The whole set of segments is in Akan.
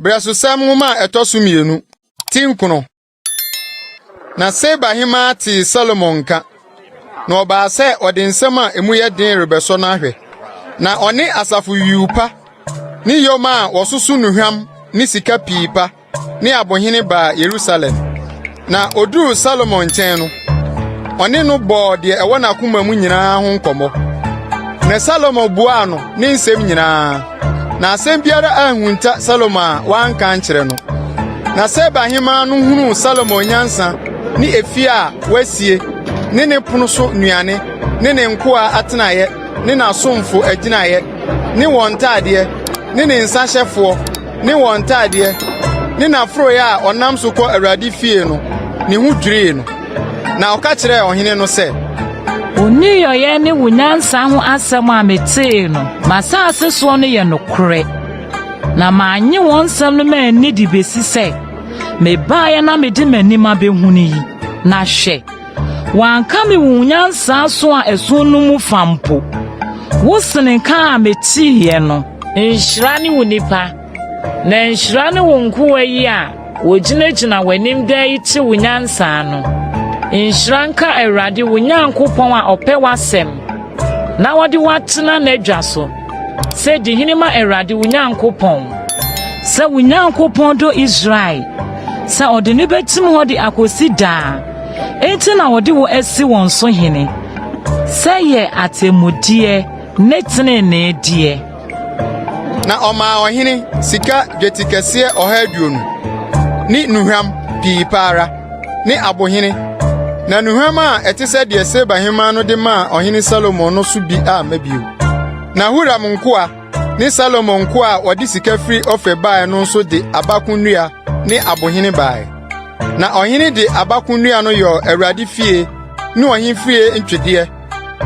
Brɛsosɛm nwoma a ɛtɔ so mmienu ti nkono. Na Seba hemaa tee Salomo nka, na ɔbaa sɛ ɔde nsɛm a emu yɛ den rebɛsɔ no ahwɛ. Na ɔne asafo yuu pa ne yoma a wɔsoso nnuhwam ne sika pii pa ne abohene baa Yerusalem, na oduruu Salomo nkyɛn no, ɔne no bɔɔ deɛ ɛwɔ n'akoma mu nyinaa ho nkɔmmɔ. Na Salomo buaa no ne nsɛm nyinaa, na asɛm biara anhunta Salomo a wanka ankyerɛ no. Na Seba hemmaa no hunuu Salomo nyansa ne efie a wasie ne ne pono so nnuane ne ne nkoa atenaeɛ ne n'asomfo agyinaeɛ ne wɔn ntadeɛ ne ne nsahyɛfoɔ ne wɔn ntaadeɛ, ne n'aforoeɛ a ɔnam so kɔ Awurade fie no, ne ho dwirii no. Na ɔka kyerɛɛ ɔhene no sɛ, Wo nneyɔeɛ ne wo nyansa ho asɛm a metee no m'asase soɔ no yɛ nokorɛ, na mannye wɔn nsɛm no manni de besi sɛ mebaeɛ na mede m'anim abɛhunu yi, na hwɛ, Wankame wo nyansa so a ɛso no mu fa mpo. Wo sene nka a meteeɛ no. Nhyira ne wo nipa. Na nhyira ne wo nkoa yi a wɔgyinagyina w'anim daa yi te wo nyansa no. Nhyira nka Awurade wo Nyankopɔn a ɔpɛ w'asɛm na ɔde wo atena n'adwa so sɛ di hene ma Awurade wo Nyankopɔn. Sɛ wo Nyankopɔn dɔ Israel sɛ ɔde no bɛtim hɔ de akɔsi daa. enti na wɔde wo asi wɔn so hene sɛ yɛ atemmudeɛ ne tenenee deɛ na ɔmaa ɔhene sika dwetikɛseɛ ɔha aduonu ne nnuhwam pii pa ara ne abohene na nnuhwam a ɛte sɛ deɛ seba hemmaa no de maa ɔhene salomo no so bi amma bio na huram nkoa ne Salomo nkoa a wɔde sika firi Ofir baeɛ no nso de abako nnua ne abohene baeɛ. Na ɔhene de abako nnua no yɔɔ Awurade fie ne ɔhene fie ntwedeɛ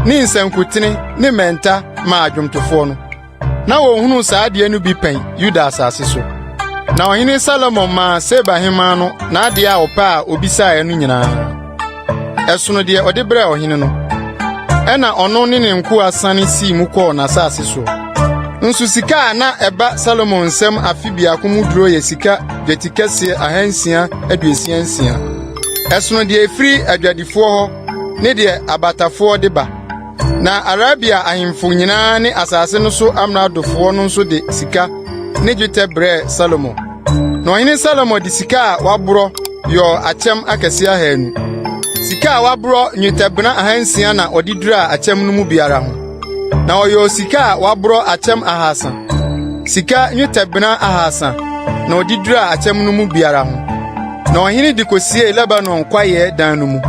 ne nsankutene ne mmɛnta maa adwomtofoɔ no. Na wɔnhunuu saa adeɛ no bi pɛn Yuda asase so. Na ɔhene Salomo maa Seba hemmaa no n'adeɛ a ɔpɛ a ɔbisaeɛ no nyinaa. ɛsono deɛ ɔde brɛɛ ɔhene no. Ɛna ɔno ne ne nkoa sane sii mu kɔɔ n'asase so. Nso sika a na ɛba Salomo nsam afe biako mu duro yɛ sika dwetikɛseɛ ahansia aduosia nsia. Ɛsono deɛ ɛfiri adwadifoɔ hɔ ne deɛ abatafoɔ de ba. Na Arabia ahemfo nyinaa ne asase no so amradofoɔ no nso de sika ne dwetɛ brɛɛ Salomo. Na ɔhene Salomo de sika a waborɔ yɔɔ akyɛm akɛseɛ ahanu. Sika a waborɔ nnwetɛbena ahansia na ɔde duraa akyɛm no mu biara ho. Na ɔyɔɔ sika a waborɔ akyɛm ahasa. Sika nnwetɛbena ahasa na ɔde duraa akyɛm no mu biara ho. Na ɔhene de kɔsiee Lebanon kwaeɛ dan no mu.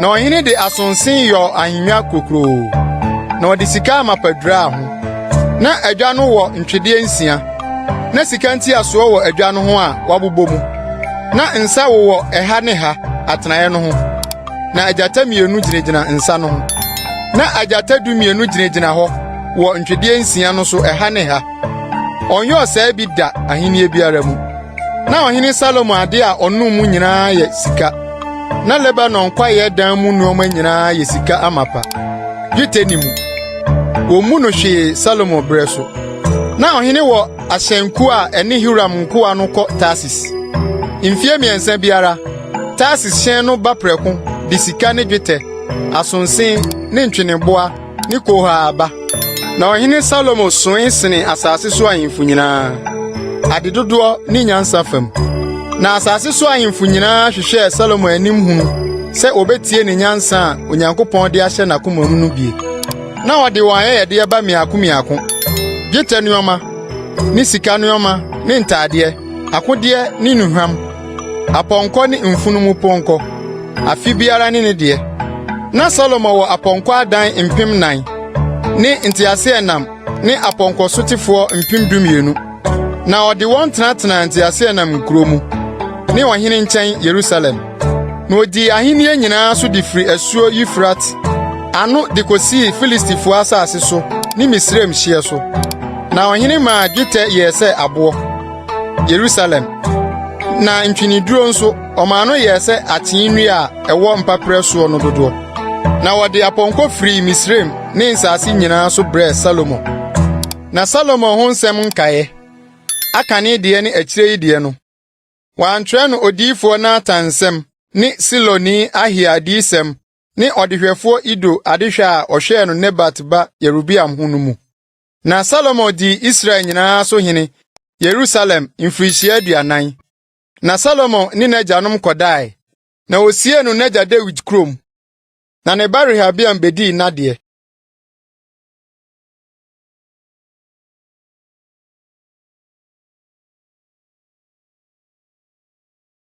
Na ɔhene de asonse yɔɔ ahengua kurokuroo, na ɔde sika amapa duraa ho. Na adwa no wɔ ntwedeɛ nsia. Na sika ntiasoɔ wɔ adwa no ho a wɔabobɔ mu. Na nsa wowɔ ɛha ne ha atenaeɛ no ho. Na agyata mmienu gyinagyina nsa no ho. Na agyata dumienu gyinagyina hɔ wɔ ntwedeɛ nsia no so ɛha ne ha. Ɔnyɔɔ saa bi da ahennie biara mu. Na ɔhene Salomo ade a ɔnom mu nyinaa yɛ sika. Na Lebanon kwaeɛ dan mu nneɛma nyinaa yɛ sika amapa, dwetɛ ne mu. Wɔmmu no hwee Salomo berɛ so. Na ɔhene wɔ ahyɛnkuo a ɛne Hiram nkoa no kɔ Tarsis. Mfeɛ mmiɛnsa biara, Tarsis hyɛn no ba prɛko de sika ne dwetɛ, asonse ne ntweneboa ne Koha ba. Na ɔhene Salomo soe sene asase so ahemfo nyinaa, ade dodoɔ ne nyansa fam. Na asase so ahemfo nyinaa hwehwɛɛ Salomo anim hunu sɛ wɔbɛtie ne nyansa a Onyankopɔn de ahyɛ n'akomam no bie. Na ɔde wɔn ayɛyɛdeɛ ba mmiako mmiako, dwetɛ nneɛma ne sika nneɛma ne ntadeɛ, akodeɛ ne nnuhwam. Apɔnkɔ ne mfunumu pɔnkɔ, afe biara ne ne deɛ. Na Salomo wɔ apɔnkɔ adan mpem nan ne nteaseɛnam ne apɔnkɔ sotefoɔ mpem dumienu. Na ɔde wɔn tenatenaa nteaseɛnam nkuro mu ne ɔhene nkyɛn Yerusalem. Na ɔdii ahennie nyinaa so de firi asuo Eufrate ano de kɔsii Filistifoɔ asase so ne Misraim hyeɛ so. Na ɔhene maa dwetɛ yɛɛ sɛ aboɔ. Yerusalem. Na ntweneduro nso, ɔmaa no yɛɛ sɛ akyee nnua a ɛwɔ mpaperɛ soɔ no dodoɔ. Na wɔde apɔnkɔ firii Misraim ne nsase nyinaa so brɛɛ Salomo. Na Salomo ho nsɛm nkaeɛ, aka ne deɛ ne akyire yi deɛ no, wɔantwerɛ no odiyifoɔ Natan nsɛm ne Siloni Ahia adiyisɛm ne ɔdehwɛfoɔ Ido adehwɛ a ɔhwɛɛ no Nebat ba Yerobeam ho no mu. Na Salomo dii Israel nyinaa so hene Yerusalem mfirihyia aduanan. Na Salomo ne n'agyanom kɔdae, na osiee no n'agya Dawid kurom, na ne ba Rehabeam bedii n'adeɛ.